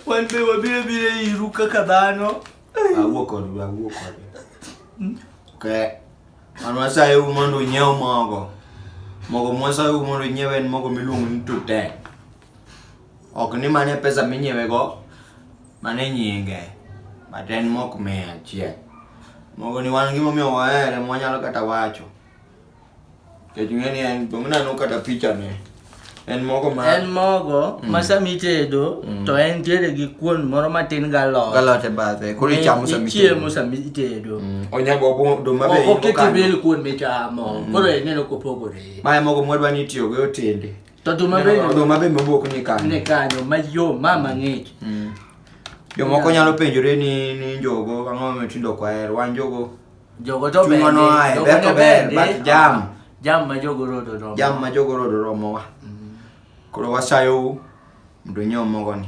Wan be wabiro biro iru kaka dhano. Awuo kodwa, awuo kodwa. Hmm? Okay. An wasaye u mondo unyiew mogo. Mogo mwasaye u mondo unyiew en mogo miluongo ni Tutek. Ok ni mane pesa minyiewe go, mano e nyinge. But en mok mia achiel. Mogo ni wan gimomiyo wahere mwanyalo kata wacho. Kech ng'e ni en, bang' nano kata picha ne. En mogo ma. En mogo Mm. ma sama itedo Mm. to entiere gi kuon moro matin galot. Galot e bathe. Koro ichamo sama Ichiemo sama itedo. Mm. Onyago obo do ma be. Ok in go oket kanyo. ibel kuon michamo. Koro ineno kopogore. Mae mogo mwadwa ni itiyogo e otende. To oduma bende oduma bende mobok ni kanyo. Ni kanyo mayom ma mang'ich. Mm. Jomoko nyalo penjore ni ni njogo ang'o ma tindo kwaher wan njogo. Jogo to ber. Chuno ae ber to ber but jam. Jam ma jogo rodo romo. Jam ma jogo rodo romo wa. Mm. Koro wasayo mondo nyom mogo ni.